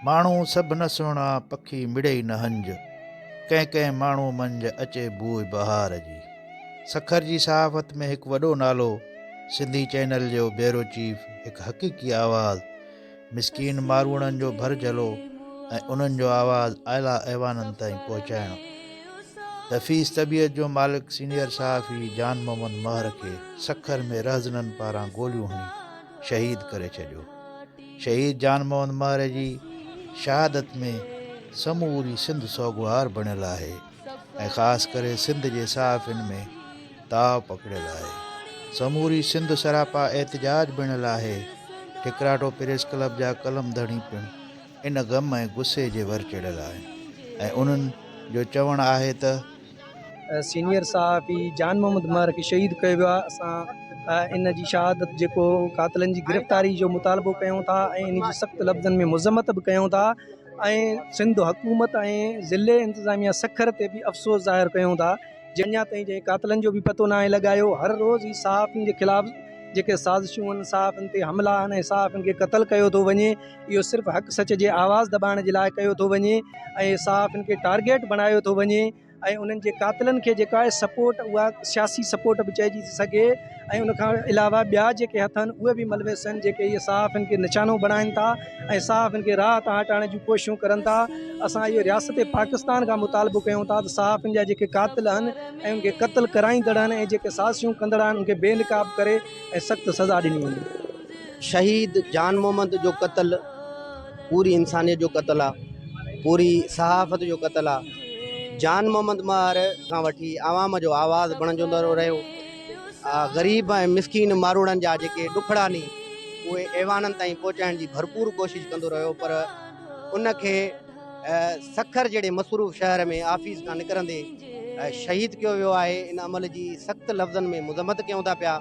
ماڻهو سڀ نه سهڻا، پکي مڙئي نه هنج. ڪنهن ڪنهن ماڻهو منجهه، اچي بوء بهار جي. سکر جي صحافت ۾ هڪ وڏو نالو، سنڌي چئنل جو بيورو چيف، هڪ حقيقي آواز، مسڪين ماروئڙن جو ڀر جهلو ۽ انهن جو آواز اعليٰ ايوانن تائين پهچائڻ. دفيس طبيعت جو مالڪ سينيئر صحافي جان محمد مهر کي سکر ۾ رهزنن پاران گوليون هڻي شهيد ڪري ڇڏيو. شهيد جان موهن مهر جي شهادت ۾ سموري سنڌ سوڳوار بڻيل آهي ۽ خاص ڪري سنڌ جي صحافين ۾ تاء پکڙيل آهي. سموري سنڌ سراپا احتجاج بڻيل آهي. ٺڪراٺو پريس ڪلب جا قلم ڌڻي پڻ ان غم ۽ غصي جي ور چڙهيل آهن ۽ انهن جو چوڻ آهي ته، سينيئر صحافي جان محمد مهر کي شهيد ڪيو ويو آهي اسان ان جي شهادت جيڪو قاتلن جي گرفتاري جو مطالبو ڪيون ٿا ۽ ان جي سخت لفظن ۾ مذمت به ڪيون ٿا ۽ سنڌ حڪومت ۽ ضلعي انتظاميه سکر تي به افسوس ظاهر ڪيون ٿا جي اڃا تائين جنهن قاتلن جو به پتو ناهي لڳايو هر روز هي صحافين جي خلاف جيڪي سازشون آهن صحافين تي حملا آهن ۽ صحافين کي قتل ڪيو ٿو وڃي اهو صرف حق سچ جي آواز دٻائڻ جي لاء ڪيو ٿو وڃي ۽ صحافين کي ٽارگيٽ بڻايو ٿو وڃي ۽ انهن جي قاتلن کي جيڪا آهي سپورٽ اها سياسي سپورٽ به چئجي ٿي سگهي ۽ ان کان علاوه ٻيا جيڪي هٿ آهن اهي به ملوث آهن جيڪي اهي صحافين کي نشانو بڻائن ٿا ۽ صحافين کي راهه تان هٽائڻ جون ڪوششون ڪرن ٿا اسان اهو رياست پاڪستان کان مطالبو ڪيون ٿا ته صحافين جا جيڪي قاتل آهن ۽ ان کي قتل ڪرائيندڙ آهن ۽ جيڪي سازشون ڪندڙ آهن ان کي بي نقاب ڪري ۽ سخت سزا ڏني وڃي شهيد جان محمد جو قتل پوري انسانيت جو قتل آ پوري صحافت جو قتل آ جان محمد مار کان وٺي عوام جو آواز بڻجندو رهيو غريب ۽ مسڪين ماروڙن جا جيڪي ڏکڙا ني اهي ايوانن تائين پهچائڻ جي ڀرپور ڪوشش ڪندو رهيو پر ان کي سکر جهڙي مصروف شهر ۾ آفيس کان نڪرندي شهيد ڪيو ويو آهي ان عمل جي سخت لفظن ۾ مذمت ڪيون ٿا پيا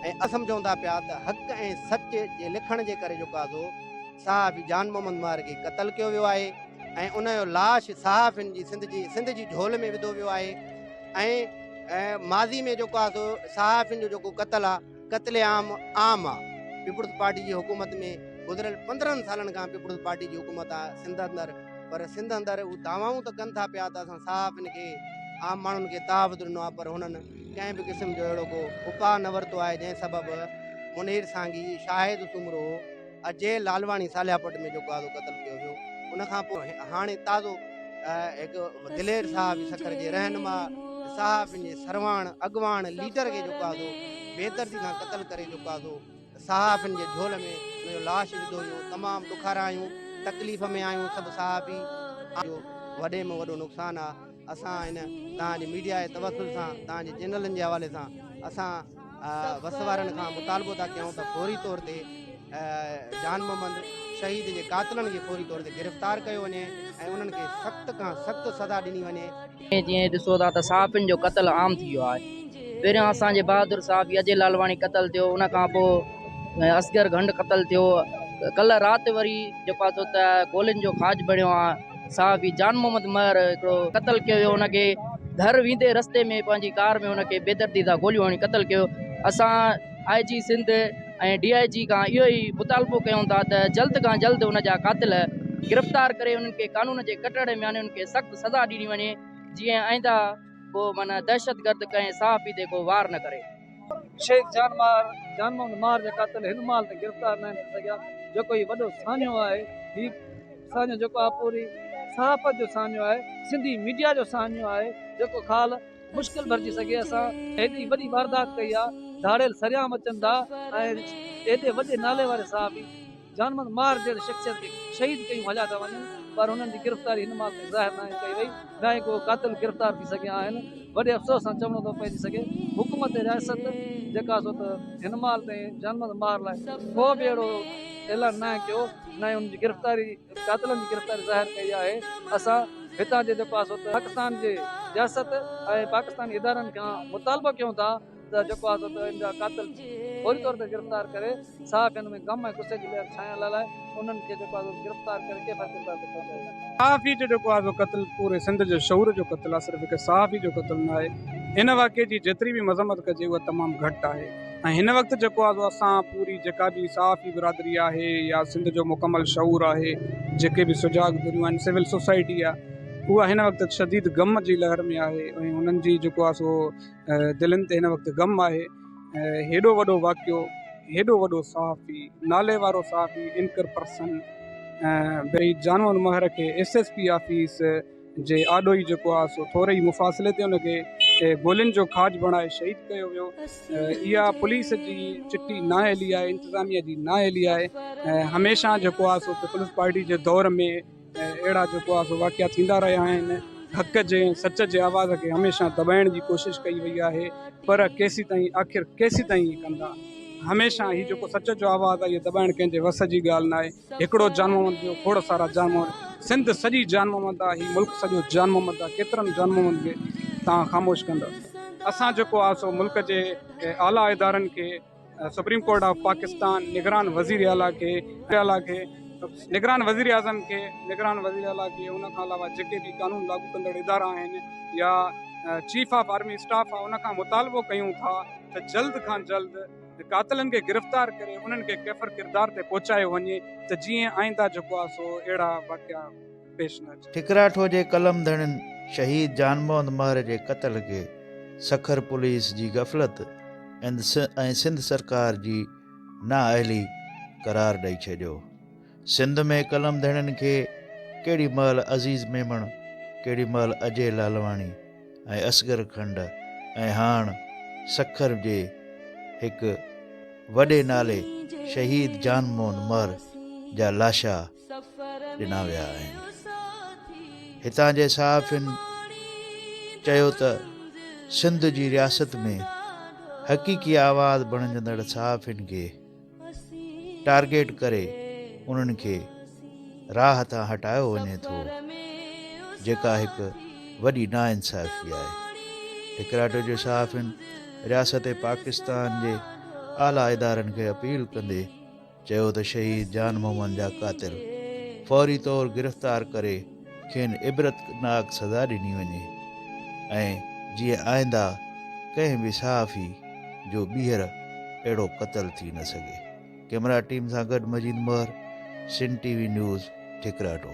۽ اسم چوندا پيا ته حق ۽ سچ جي لکڻ جي ڪري جيڪو آزو صحافي جان محمد ماهر کي قتل ڪيو ويو آهي ۽ ان جو لاش صحافين جي سنڌ جي سنڌ جي جهول ۾ وڌو ويو آهي ۽ ماضي ۾ جيڪو آزو صحافين جو جيڪو قتل آهي قتل عام عام آهي پيپلز پارٽي جي حڪومت ۾ گذريل پندرهن سالن کان پيپلز پارٽي جي حڪومت آهي سنڌ اندر پر سنڌ اندر هو دعوائون ته ڪن ٿا پيا ته اسان صحافين کي عام ماڻهن کي تحفظ ڏنو آهي پر هنن ڪنهن به قسم جو اهڙو ڪو اپاء نه ورتو آهي جنهن سبب منير سانگي، شاهد سومرو، اجي لالواڻي ساليا پٽ ۾ جيڪو آزو قتل ڪيو ويو ان کان پوء هاڻي تازو هڪ دلير صاحب سکر جي رهنما صاحب پنهنجي سرواڻ اڳواڻ ليڊر کي جيڪو آزو بيدردي سان قتل ڪري جيڪو آزو صحافين جي جهول ۾ ان جو لاش وڌو ويو تمام ڏکارا آهيون تڪليف ۾ آهيون سڀ صحافي جو وڏي ۾ وڏو نقصان آهي. اسان هن توهان جي ميڊيا جي توسل سان توهان جي چينلن جي حوالي سان اسان وس وارن کان مطالبو ٿا ڪيون ته فوري طور تي جان محمد شهيد جي قاتلن کي فوري طور تي گرفتار ڪيو وڃي ۽ انهن کي سخت کان سخت سزا ڏني وڃي جيئن ڏسو ٿا ته صحافين جو قتل عام ٿي ويو آهي پهريان اسان جي بهادر صحافي اجي لالواڻي قتل ٿيو ان کان پوء اصغر گهنڊ قتل ٿيو ڪلهه رات وري جيڪو آهي سو ته گولين جو کاڄ بڻيو آهي صحافي جان محمد مهر هڪڙو قتل ڪيو ويو ان کي گهر ويندي رستي ۾ پنهنجي ڪار ۾ ان کي بيدردي سان گوليون هڻي قتل ڪيو اسان آء جي سنڌ ۽ ڊي آء جي کان اهو ئي مطالبو ڪيون ٿا ته جلد کان جلد ان جا قاتل گرفتار ڪري انهن کي قانون جي ڪٽهڙي ۾ آڻي انهن کي سخت سزا ڏني وڃي جيئن آئنده ڪو معنيٰ دهشتگرد ڪنهن صحافي تي ڪو وار نه ڪري. شهيد جان مار، جان محمد مار جا قاتل هن مال تائين گرفتار ناهن ٿي سگهيا، جيڪو هي وڏو ساڃهو آهي، هي ساڃهو جيڪو آهي پوري صحافت جو ساڃهو آهي، سنڌي ميڊيا جو ساڃهو آهي، جيڪو خال مشڪل ڀرجي سگهي، اسان هيڏي وڏي واردات ڪئي آهي، ڌاڙيل سرعام اچن ٿا ۽ هيڏي وڏي نالي واري صحافي. جانماز مار جهڙي شخصيت کي شهيد ڪيون هليا ٿا وڃن پر هنن جي گرفتاري هن ماڳ تائين ظاهر ناهي ڪئي وئي ناهي ڪو قاتل گرفتار ٿي سگهيا آهن وڏي افسوس سان چوڻو ٿو پئجي سگهي حڪومت رياست جيڪا سو ته هن مال تائين جانماز مار لاء ڪو به اهڙو اعلان ناهي ڪيو نه ئي انهن جي گرفتاري قاتلن جي گرفتاري ظاهر ڪئي آهي اسان هتان جي جيڪو سو ته پاڪستان جي رياست ۽ پاڪستاني ادارن کان مطالبو ڪيون ٿا ته جيڪو آهي سو ان جا قاتل فوري طور تي گرفتار ڪري ساهه کڻڻ ۾ غم ۽ غصي جي لهر ڇانئڻ لاء لاء انهن کي جيڪو آهي سو گرفتار ڪري ڪيفر ڪردار تي پهچايو وڃي. صحافي جو جيڪو آهي سو قتل پوري سنڌ جي شعور جو قتل آهي صرف هڪ صحافي جو قتل نه آهي ان واقعي جي جيتري به مذمت ڪجي اها تمام گهٽ آهي ۽ هن وقت جيڪو آهي سو اسان پوري جيڪا به صحافي برادري آهي يا سنڌ جو مڪمل شعور آهي جيڪي به سجاڳ ڌريون آهن سول سوسائٽي آهي اها هن وقت شديد غم جي لهر ۾ آهي ۽ انهن جي جيڪو آهي سو دلين تي هن وقت غم آهي. هيڏو وڏو واقعو هيڏو وڏو صحافي نالي وارو صحافي اينڪر پرسن بي جانوان مهر کي ايس ايس پي آفيس جي آڏو ئي جيڪو آهي سو ٿوري ئي مفاصلي تي ان کي گولين جو کاڄ بڻائي شهيد ڪيو ويو اها پوليس جي چٽي نااهلي آهي انتظاميه جي نااهلي آهي هميشه جيڪو آهي سو پيپلز پارٽي جي دور ۾ ۽ اهڙا جيڪو آهي سو واقعا ٿيندا رهيا آهن. حق جي ۽ سچ جي آواز کي هميشه دٻائڻ جي ڪوشش ڪئي وئي آهي پر ڪيسيتائين آخر ڪيسيتائين هي ڪندا. هميشه هي جيڪو سچ جو آواز آهي اهي دٻائڻ ڪنهن جي وس جي ڳالهه ناهي. هڪڙو جان محمد ٻيو کوڙ سارا جان محمد سنڌ سڄي جان محمد آ هي ملڪ سڄو جان محمد آ ڪيترن جان محمد کي توهان خاموش ڪندا. اسان جيڪو آهي سو ملڪ جي اعليٰ ادارن کي. سپريم ڪورٽ آف پاڪستان نگران وزير اعليٰ کي نگران وزير اعظم کي نگران وزير اعليٰ کي ان کان علاوه جيڪي به قانون لاڳو ڪندڙ ادارا آهن يا چيف آف آرمي اسٽاف آهي ان کان مطالبو ڪيون ٿا ته جلد کان جلد قاتلن کي گرفتار ڪري انهن کي ڪيفر ڪردار تي پهچايو وڃي ته جيئن آئنده جيڪو آهي سو اهڙا واقعا پيش نه اچي. ٺڪراٺو جي قلم ڌڻين شهيد جان محمد مهر جي قتل کي سکر پوليس جي غفلت ۽ سنڌ سرڪار جي نااهلي قرار ڏئي ڇڏيو. سنڌ ۾ قلم ڌڻين کي ڪهڙي مهل عزيز ميمڻ، ڪهڙي مهل اجي لالواڻي ۽ اصغر کنڊ ۽ هاڻ سکر جي هڪ وڏي نالي شهيد جان محمد مهر جا لاشا، ڏنا ويا آهن هتان جي صحافين چيو ته سنڌ جي رياست ۾ حقيقي آواز بڻجندڙ صحافين کي ٽارگيٽ ڪري انهن کي راهه تان هٽايو وڃي ٿو جيڪا هڪ وڏي ناانصافي آهي ٽڪراٽو جي صحافين رياست پاڪستان جي اعليٰ ادارن کي اپيل ڪندي چيو ته شهيد جان محمد جا قاتل فوري طور گرفتار ڪري کين عبرتناڪ سزا ڏني وڃي ۽ جيئن آئنده ڪنهن به صحافي جو ٻيهر اهڙو قتل ٿي نه سگهي ڪيمرا ٽيم سان گڏ Majeed Mehar Sindh T V news ٺڪراٽو.